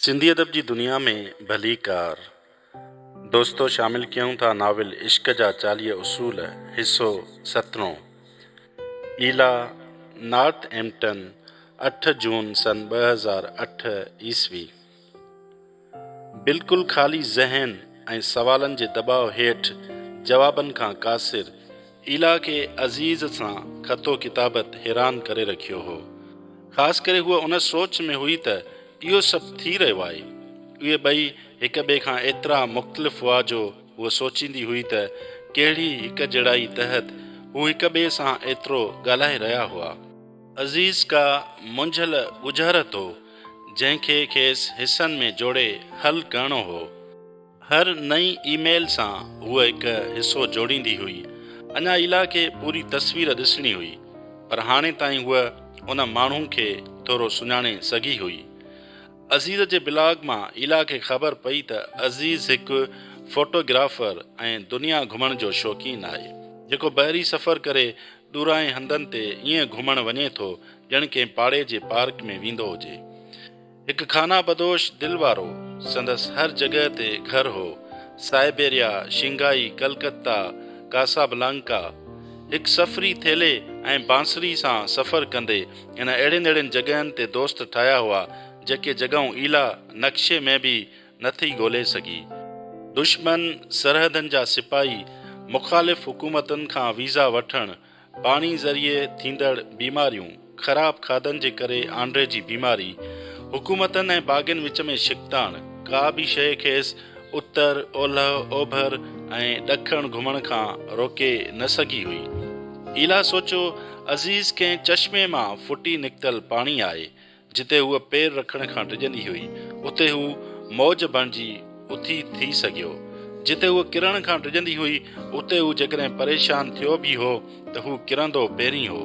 سنڌي ادب جي دنيا ۾ ڀليڪار دوستو شامل ڪيون ٿا ناول عشق جا چاليهه اصول حصو سترون ايلا نارٿ ايمپٽن اٺ جون سن ٻه هزار اٺ عيسوي. بلڪل خالي ذهن ۽ سوالن جي دٻاء هيٺ جوابن کان قاصر، ايلا کي عزيز سان خط و ڪتابت حيران ڪري رکيو هو. خاص ڪري هوء ان سوچ ۾ هئي ته اهو سڀ ٿي رهيو آهي. اهي ٻئي هڪ ٻئي کان ايترا مختلف هئا جو هوء سوچيندي هئي ته ڪهڙي هڪجهڙائي تحت هو هڪ ٻئي سان ايترو ڳالهائي رهيا هئا. عزيز ڪا منجهيل ڳجهرت هو، جنهن کي کيس حصن ۾ جوڙي حل ڪرڻو هو. هر نئين اي ميل سان هوء هڪ حصو جوڙيندي هئي. اڃا ايلا کي پوري تصوير ڏسڻي هئي، پر هاڻي تائين هوء ان ماڻهو کي ٿورو سڃاڻي سگهي هئي. عزيز جي بلاگ مان ايلا کي خبر پئي ته عزيز هڪ فوٽوگرافر ۽ دنيا گهمڻ جو شوقين آهي، جيڪو بحري سفر ڪري ڏورانهين هنڌن تي ائين گهمڻ وڃي ٿو ڄڻ ڪنهن پاڙي جي پارڪ ۾ ويندو هجي. هڪ خانه بدوش دل وارو، سندس هر جڳهه تي گهر هو، سائبيريا، شنگهائي، ڪلڪتا، ڪاسابلانڪا. هڪ سفري ٿيلهي ۽ بانسري سان سفر ڪندي هن اهڙين اهڙين جڳهين تي دوست ٺاهيا هئا، جيڪي جڳهون ايلا نقشي ۾ به نه ٿي ڳولي سگهي. دشمن سرحدن جا سپاهي مخالف حڪومتن کان ويزا وٺڻ، پاڻي ذريعي ٿيندڙ بيماريون، خراب کاڌن جي ڪري آنڊري جي بيماري، حڪومتن ۽ باغين وچ ۾ ڇڪتاڻ، ڪا به شيء کيس اتر، اولهه، اوڀر ۽ ڏکڻ گهمڻ کان روڪي نه سگهي هئي. ايلا سوچيو، عزيز ڪنهن چشمي مان ڦٽي نڪتل پاڻي آهي، جتي هوء پير رکڻ کان ڊڄندي هئي، اتي هو موج بڻجي اٿي ٿي سگهيو. جتي هوء ڪرڻ کان ڊڄندي هئي، اتي هو جيڪڏهن پريشان ٿيو به هو ته هو ڪرندو پهرين هو،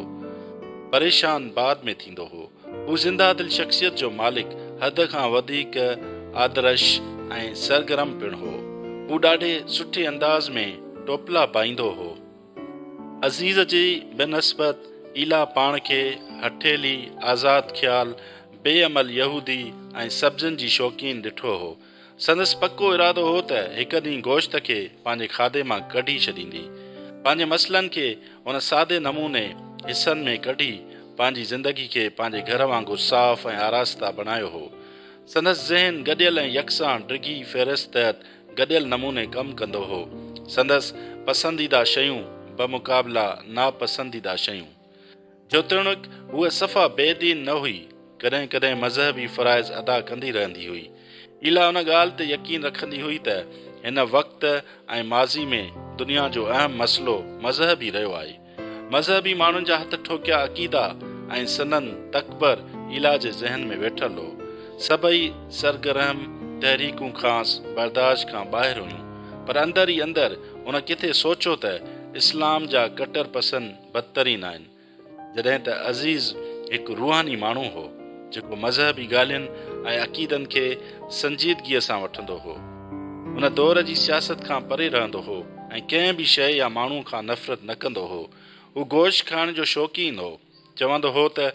پريشان بعد ۾ ٿيندو هو. هو زنده دل شخصيت جو مالڪ، حد کان وڌيڪ آدرش ۽ سرگرم پڻ هو. هو ڏاڍي سٺي انداز ۾ ٽوپلا پائيندو هو. عزيز جي بنسبت ايلا پاڻ کي هٺيلي، آزاد خيال، بي عمل يهودي ۽ سبزين جي شوقين ڏٺو هو. سندس پڪو ارادو هو ته هڪ ڏينهن گوشت کي پنهنجي کاڌي مان ڪڍي ڇڏيندي. پنهنجي مسئلن کي ان سادي نموني حصن ۾ ڪڍي پنهنجي زندگي کي پنهنجي گهر وانگر صاف ۽ آراسته بڻايو هو. سندس ذهن گڏيل ۽ يڪسان ڊگهي فهرست تحت گڏيل نموني ڪم ڪندو هو. سندس پسنديده شيون بمقابله ناپسنديده شيون. جوتوڻيڪ هوء صفا بي دين نه هئي، ڪڏهن ڪڏهن مذهبي فرائض ادا ڪندي رهندي هئي. ايلا ان ڳالهه تي يقين رکندي هئي ته هن وقت ۽ ماضي ۾ دنيا جو اهم مسئلو مذهب ئي رهيو آهي. مذهبي ماڻهن جا هٿ ٺوڪيا عقيدا ۽ سندن تڪبر ايلا جي ذهن ۾ ويٺل هو. سڀئي سرگرهم تحريڪون کانئس برداشت کان ٻاهر هيون، پر اندر ئي اندر هن ڪٿي سوچيو ته اسلام جا ڪٽر پسند بدترين آهن. جڏهن ته عزيز هڪ روحاني ماڻهو هو، جيڪو مذهبي ڳالهين ۽ عقيدن کي سنجيدگيء سان وٺندو هو. هن دور جي سياست کان پري رهندو هو ۽ ڪنهن به شيء يا ماڻهو کان نفرت نه ڪندو هو. هو گوشت کائڻ جو شوقين هو. چوندو هو ته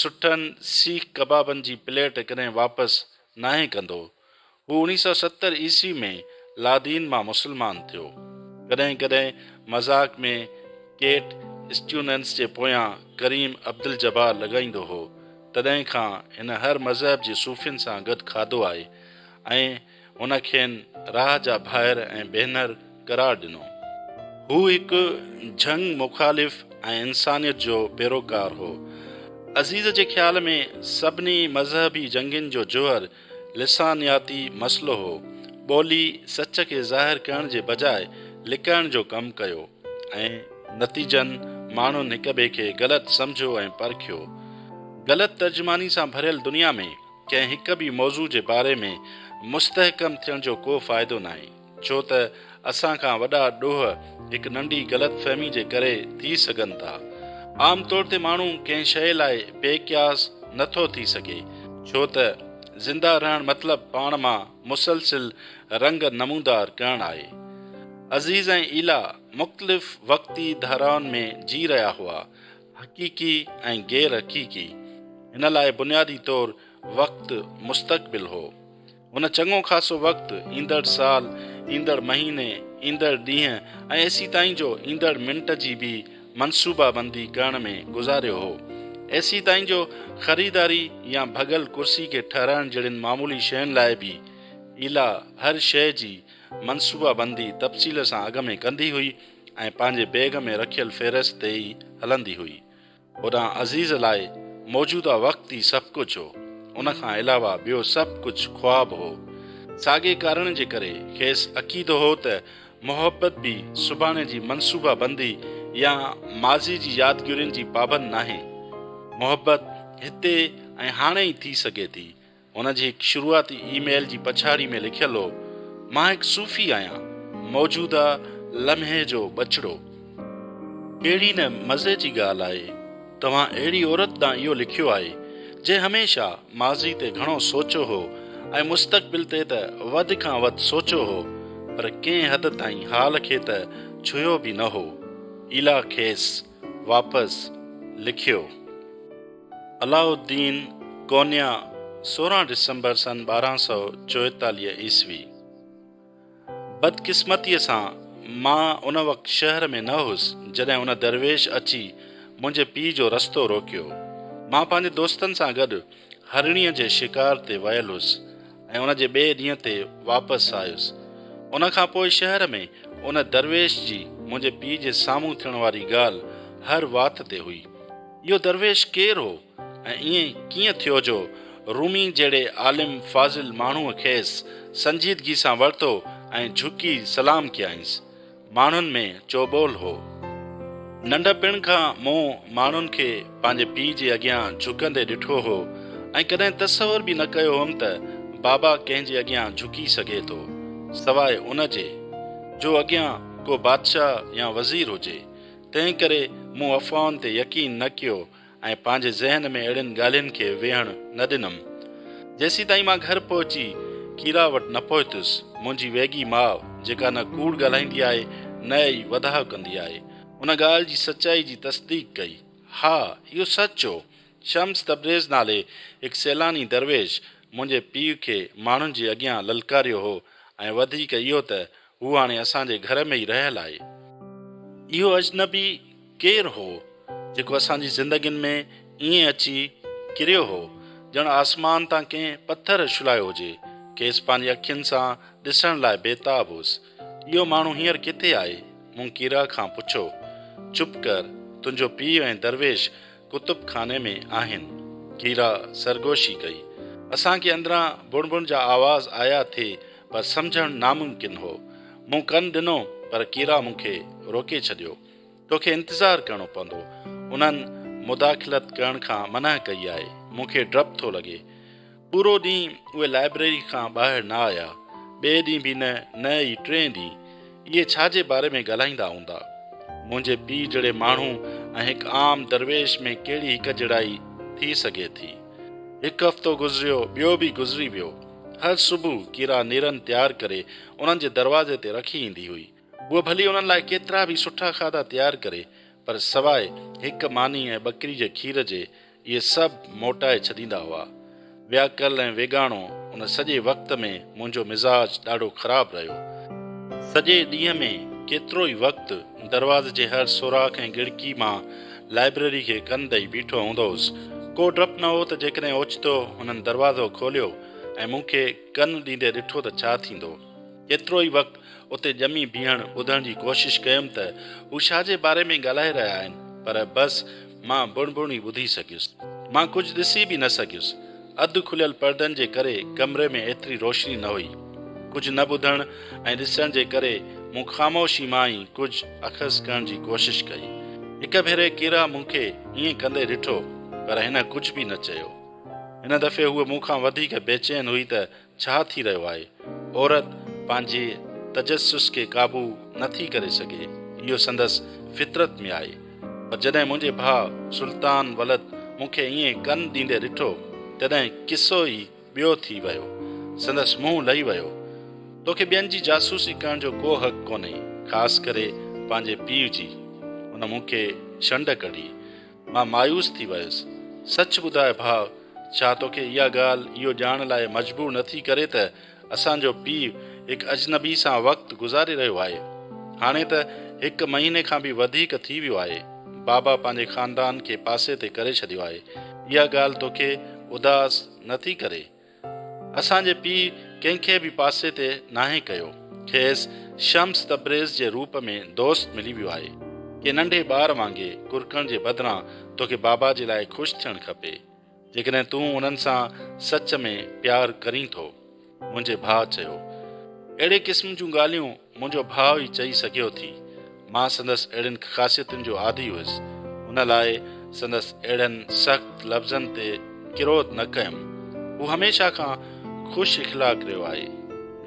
سٺن سيخ ڪبابن جي پليٽ ڪڏهن واپس ناهي ڪندو. هو اوڻيهه سؤ ستر عيسوي ۾ لادين مان مسلمان ٿيو. ڪڏهن ڪڏهن مذاق ۾ ڪيٽ اسٽيوننس جي پويان ڪريم عبدالجبار لڳائيندو هو. تڏهن کان هن هر مذهب جي صوفين سان گڏ کاڌو آهي ۽ هن کين راهه جا ڀائر ۽ ڀينر قرار ڏنو. هو هڪ جهنگ مخالف ۽ انسانيت جو پيروڪار هو. عزيز جي خيال ۾ سڀني مذهبي جنگين جو جوهر لسانياتي مسئلو هو. ٻولي سچ کي ظاهر ڪرڻ جي بجاء لڪائڻ جو ڪم ڪيو ۽ نتيجن ماڻهن هڪٻئي کي غلط سمجهيو ۽ پرکيو. غلط ترجماني سان ڀريل دنيا ۾. ڪنهن هڪ به موضوع جي باري ۾ مستحڪم ٿيڻ جو ڪو فائدو ناهي، ڇو ته اسان کان وڏا ڏوهه هڪ ننڍي غلط فهمي جي ڪري ٿي سگهن ٿا. عام طور تي ماڻهو ڪنهن شيء لاء بي قياس نه ٿو ٿي سگهي، ڇو ته زنده رهڻ مطلب پاڻ مان مسلسل رنگ نمودار ڪرڻ آهي. عزيز ۽ ايلا مختلف وقتي ڌارائن ۾ جي رهيا هئا، حقيقي ۽ غير حقيقي، هن لاء بنيادي طور وقت مستقبل هو. هن چڱو خاصو وقت ايندڙ سال، ايندڙ مهيني، ايندڙ ڏينهن ۽ ايسي تائين جو ايندڙ منٽ جي به منصوبه بندي ڪرڻ ۾ گذاريو هو. ايسي تائين جو خريداري يا ڀڳل ڪرسي کي ٺهرائڻ جهڙين معمولي شين لاء به ايلا هر شيء جي منصوبه بندي تفصيل سان اڳ ۾ ڪندي هئي. ۽ پنهنجي بيگ ۾ رکيل فهرست تي ئي هلندي هئي. هوڏانهن عزيز لاء موجوده وقت ئي سڀ ڪجهه هو. ان کان علاوه ٻيو سڀ ڪجهه خواب هو. ساڳئي ڪارڻ جي ڪري کيس عقيدو هو ته محبت به سڀاڻي جي منصوبه بندي يا ماضي جي يادگيرين جي پابند ناهي. محبت هتي ۽ هاڻي ئي ٿي سگهي ٿي. هن جي هڪ شروعاتي اي ميل جي پڇاڙي ۾ لکيل هو، مان هڪ صوفي آهيان، موجوده لمحي جو ٻچڙو. ڪهڙي نه مزي جي ڳالهه آهي، توهان اهڙي عورت ڏانهن اهو لکيو آهي، جنهن هميشه ماضي تي گهڻو سوچيو هو ۽ مستقبل تي ته وڌ کان وڌ سوچيو هو، پر ڪنهن حد تائين حال کي ته ڇهيو به نه هو. ايلا کيس. واپس لکيو. علاء الدين ڪونيا سورهن ڊسمبر سن ٻارهن سؤ چوئيتاليهه عيسوي. بدقسمتيء سان مان ان وقت شهر ۾ نه هوس جڏهن ان درويش اچي منهنجي پيء جو رستو روڪيو. مان پنهنجي دوستن سان گڏ هرڻيء جي شڪار تي ويل هوس. ۽ ان جي ٻئي ڏينهن تي واپس آيس. ان کان پوء شهر ۾ ان درويش جي منهنجي پيء جي سامهون ٿيڻ واري ڳالهه هر وات تي هئي. اهو درويش ڪير هو ۽ ائين ڪيئن ٿيو جو رومي جهڙي عالم فاضل ماڻهوء کيس سنجيدگي سان ورتو ۽ جهڪي سلام ڪيائينس. ماڻهن ۾ چوٻول هو. ننڍپڻ کان مون ماڻهن کي پنهنجي پيء جي اڳيان جهڪندي ڏٺو هو ۽ ڪڏهن تصور به نه ڪيو هوم ته بابا ڪنهن جي اڳيان جهڪي سگهي ٿو، سواء ان جي، جو اڳيان ڪو بادشاهه يا وزير هجي. تنهنڪري مون افواهن تي يقين نه ڪيو ۽ پنهنجي ذهن ۾ اهڙين ڳالهين کي ويهڻ نه ڏنم. جيسيتائين مان گهر پهچي ڪيرا وٽ نه پهتس، منهنجي ويڳي ماء، جيڪا نه ڪوڙ ڳالهائيندي آهي، نه ئي وڌاء ڪندي آهي، ان ڳالهه جي سچائي جي تصديق ڪئي. ها، اهو سچ هو. شمس تبريز نالي هڪ سيلاني درويش منهنجي پيء کي ماڻهن جي اڳيان للڪاريو هو ۽ وڌيڪ اهو ته هو هاڻي اسان جي گهر ۾ ئي رهيل آهي. اهو اجنبي ڪير هو، جيڪو اسان جي زندگين ۾ ائين اچي ڪريو هو، ڄڻ آسمان تان ڪنهن پٿر اڇلايو هجي. کيس پنهنجي اکين سان ڏسڻ لاء بيتاب هوس. اهو ماڻهو هينئر ڪٿي آهي؟ مون ڪيرا کان پڇيو. چپ ڪر، تنهنجو پيء ۽ درويش ڪتب خاني ۾ آهن. ڪيرا سرگوشي ڪئي. اسان کي اندران بڻ بڻ جا آواز آيا ٿي پر سمجهڻ ناممڪن هو. مون ڪن ڏنو پر ڪيرا مون کي روڪي ڇڏيو. توکي انتظار ڪرڻو پوندو. انهن مداخلت ڪرڻ کان منع ڪئي آهي. مون کي ڊپ ٿو لڳي. پورو ڏينهن اهي لائبريري کان ٻاهر نه آيا، ٻئي ڏينهن به نه، نه ئي ٽئين ڏينهن. اهي ڇا جي باري ۾ ڳالهائيندا هوندا؟ منهنجي پيء جهڙي ماڻهو ۽ هڪ عام درويش ۾ ڪهڙي هڪجهڙائي ٿي سگهي ٿي؟ هڪ هفتو گذريو، ٻيو به گذري ويو. هر صبح ڪيرا نيرن تيار ڪري انهن جي دروازي تي رکي ايندي هئي. هوء ڀلي انهن لاء ڪيترا به سٺا کاڌا تيار ڪري، پر سواء هڪ ماني ۽ ٻڪري جي کير جي، اهي سڀ موٽائي ڇڏيندا هئا. وياڪل ۽ ويڳاڻو ان سڄي وقت ۾ منهنجو مزاج ڏاڍو خراب رهيو. سڄي ڏينهن ۾ ڪيترو ئي وقت دروازي جي هر سوراخ ۽ ڳڙڪي مان لائبرري کي ڪن ڏئي بيٺو هوندو هوس. ڪو ڊپ نه هو ته جيڪڏهن اوچتو هنن دروازو کوليو ۽ مون کي ڪن ڏيندي ڏٺو ته ڇا ٿيندو. ڪيترو ئي وقت اتي ڄمي بيهڻ ٻڌڻ جي ڪوشش ڪيم ته هو ڇا جي باري ۾ ڳالهائي رهيا آهن پر بس مان بڻ بڻ ئي ٻڌي سگهيس. مان ڪجهه ڏسي به نه سگهيس. اڌ کليل پردن جي ڪري ڪمري ۾ ايتري روشني نه هئي. ڪجهه نه ٻڌڻ ۽ ڏسڻ جي ڪري مون خاموشي مان ئي ڪجهه اخذ ڪرڻ جي ڪوشش ڪئي. هڪ ڀيري ڪيرا مون کي ائين ڪندي ڏٺو پر هن ڪجهه به نه چيو. هن دفعي هوء مون کان وڌيڪ بيچين هئي ته ڇا ٿي رهيو آهي؟ عورت پنهنجي تجسس کي قابو نه ٿي ڪري سگهي، اهو سندس فطرت ۾ آهي. پر جڏهن منهنجي ڀاء سلطان ولد مون کي ائين ڪن ڏيندي ڏٺو، تڏهن قصو ئي ٻيو ٿي ويو. سندس منهن لهي ويو. توکي ٻين جي جاسوسي ڪرڻ جو ڪو حق ڪونهي، خاص ڪري پنهنجي پيء جي. هن مون کي شنڊ ڪڍي. مان مايوس ٿي ويس. سچ ٻڌاء ڀاء، ڇا توکي اها ڳالهه اهو ڄاڻڻ لاء مجبور نه ٿي ڪري ته اسان جو پيء هڪ اجنبي سان وقت گذاري رهيو آهي؟ هاڻي ته هڪ مهيني کان به وڌيڪ ٿي ويو آهي. بابا پنهنجي خاندان کي پاسي تي ڪري ڇڏيو آهي. اها ڳالهه توکي اداس نه ٿي ڪري؟ اسان جي پيء ڪنهن کي به پاسي تي ناهي ڪيو. کيس شمس تبريز جي روپ ۾ دوست ملي ويو آهي. ڪنهن ننڍي ٻار وانگي ڪرڪڻ جي بدران توکي بابا جي لاء خوش ٿيڻ کپي. جيڪڏهن تون انهن سان سچ ۾ پيار ڪرين ٿو. منهنجي ڀاء چيو. اهڙي قسم جون ڳالهيون منهنجو ڀاء ئي چئي سگهيو ٿي. مان سندس اهڙين خاصيتن جو عادي هيس. ان لاء سندس اهڙن سخت لفظن تي ڪروڌ نه ڪيم. هو هميشه کان خوش اخلاق رهيو آهي.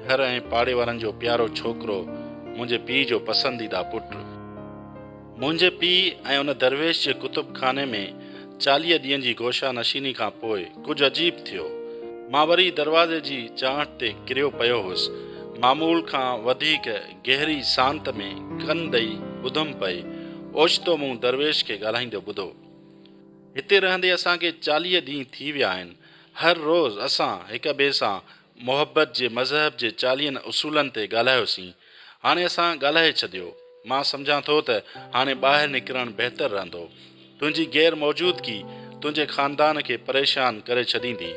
گهر ۽ پاڙي وارن جو پيارو ڇوڪرو، منهنجي پيء جو پسنديده پٽ. منهنجي پيء ۽ ان درويش جي ڪتب خاني ۾ چاليهه ڏينهن جي گوشه نشيني کان پوء ڪجهه عجيب ٿيو. مان وري دروازي جي چانهٺ تي ڪريو پيو هوس. معمول کان وڌيڪ گهري سانت ۾ ڪن ڏئي ٻڌم پئي. اوچتو مون درويش کي ڳالهائيندو ٻڌو. هتي رهندي اسان کي چاليهه ڏينهن ٿي ويا آهن. هر روز اسان هڪ ٻئي سان محبت جي مذهب جي چاليهن اصولن تي ڳالهايوسين. هاڻي اسان ڳالهائي ڇڏيو. مان سمجهان ٿو ته هاڻي ٻاهر نڪرڻ بهتر رهندو. تنهنجي غير موجودگي تنهنجي خاندان کي پريشان ڪري ڇڏيندي.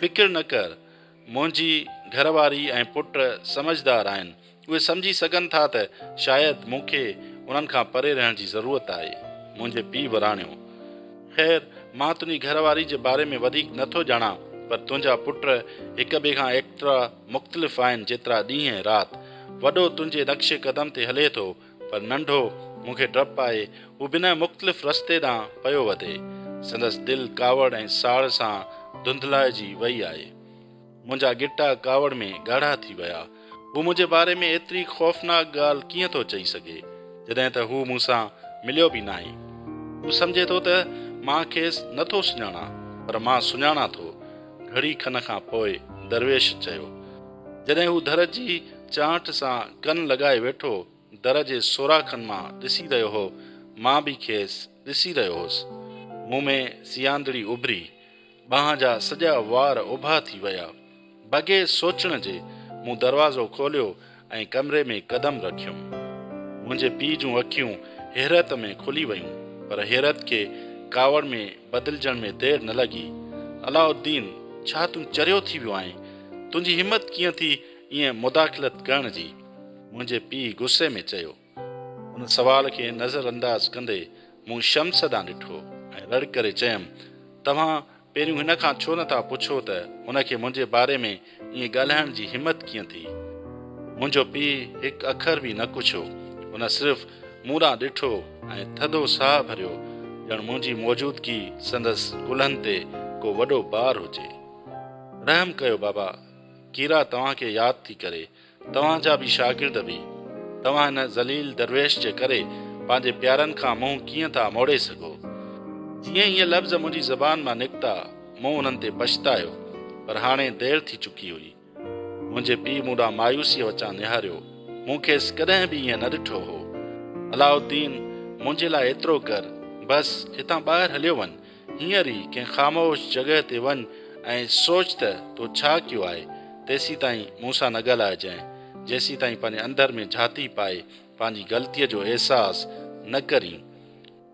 فڪر نه ڪر. منهنجي گهر واري ۽ پٽ سمجهدار آهن. اهي سمجهي سگهن ٿا ته شايد مون کي انهن کان پري رهڻ جي ضرورت آهي. منهنجي پيء وراڻيو. خير، مان تنهنجي گهر واري جي باري ۾ وڌيڪ نه ٿو ڄاڻان، پر تنهنجا پٽ هڪ ٻئي کان ايترا مختلف آهن جيترا ڏينهن ۽ رات. وڏو تنهنجي نقش قدم تي هلي ٿو، پر ننڍو، مون کي ڊپ آهي، هو بنهه مختلف رستي ڏانهن پيو وڌي. سندس دل ڪاوڙ ۽ ساڙ سان ڌنڌلائجي وئي آهي. منهنجا ڳٽا ڪاوڙ ۾ ڳاڙها ٿي ويا. هو منهنجي باري ۾ ايتري خوفناڪ ڳالهه ڪيئن ٿو چئي سگهي، جڏهن ته هو مون سان مليو به ناهي. هو سمجهي ٿو ته مان کيس نه ٿو سڃاڻان، پر مان سڃاڻان ٿو. گهڙي کن کان پوء درويش چيو. جڏهن هو در جي چانئٺ سان ڪن لڳائي ويٺو، در جي سوراخن مان ڏسي رهيو هو، مان به کيس ڏسي رهيو هوس. مون ۾ سيانڌڙي اڀري. ٻانهن جا سڄا وار اڀا ٿي ويا. بغير سوچڻ جي مون دروازو کوليو ۽ ڪمري ۾ قدم رکيم. منهنجي پيء جون اکيون حيرت ۾ کلي ويون، پر حيرت کي ڪاوڙ ۾ بدلجڻ ۾ دير نه لڳي. علاء الدين، ڇا تون چريو ٿي ويو آهين؟ تنهنجي همت ڪيئن ٿي ائين مداخلت ڪرڻ جي؟ منهنجي پيء غصي ۾ چيو. ان سوال کي نظر انداز ڪندي مون شمس ڏانهن ڏٺو ۽ رڙ ڪري چيم، توهان پهريون هن کان ڇو نه ٿا پڇو ته هن کي منهنجي باري ۾ ائين ڳالهائڻ جي همت ڪيئن ٿي؟ منهنجو پيء هڪ اکر به نه ڪڇيو، هن صرف مون ڏانهن ڏٺو ۽ ٿڌو ساهه ڀريو، ڄڻ منهنجي موجودگي سندس ڪلهن تي ڪو وڏو بار هجي. رحم ڪيو بابا، ڪيرا توهان کي ياد ٿي ڪري. توهان جا به شاگرد به توهان هن ذليل درويش جي ڪري پنهنجي پيارن کان منهن ڪيئن ٿا موڙي سگهو. جيئن ئي اهي لفظ منهنجي زبان مان نڪتا، مون انهن تي پڇتايو، پر هاڻي دير ٿي چڪي هئي. منهنجي پيء مون ڏانهن مايوسيء وچان نهاريو. مون کيس ڪڏهن به ائين نه ڏٺو هو. علاؤالدين، منهنجي لاء ايترو ڪر، بس هتان ٻاهر هليو وڃ. هينئر ئي ڪنهن خاموش جڳهه تي وڃ ۽ سوچ ته تو ڇا ڪيو آهي. تيسيتائين مون سان نه ڳالهائجانء، جيسيتائين پنهنجي اندر ۾ جهاتي پائي پنهنجي غلطيء جو احساس نه ڪرين.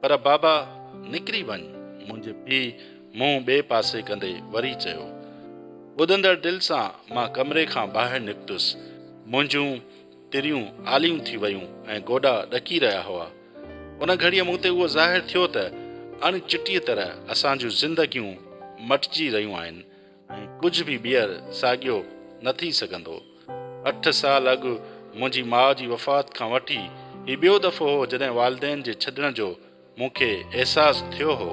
پر بابا نڪري وڃ. منهنجي پيء منهن ٻئي پاسي ڪندي وري چيو. ٻڌندڙ دل سان مان ڪمري کان ٻاهر نڪتس. منهنجون تريون آليون ٿي ويون ۽ گوڏا ڏڪي رهيا هئا. ان گهڙيء مون تي اهو ظاهر ٿيو ته اڻ چٽيء طرح اسان جون زندگيون مٽجي رهيون آهن ۽ ڪجهه به ٻيهر ساڳيو نه ٿي سگهندو. اٺ سال اڳ منهنجي ماء جي وفات کان وٺي هي ٻيو دفعو هو جڏهن والدين جي ڇڏڻ جو مون کي احساس ٿيو هو.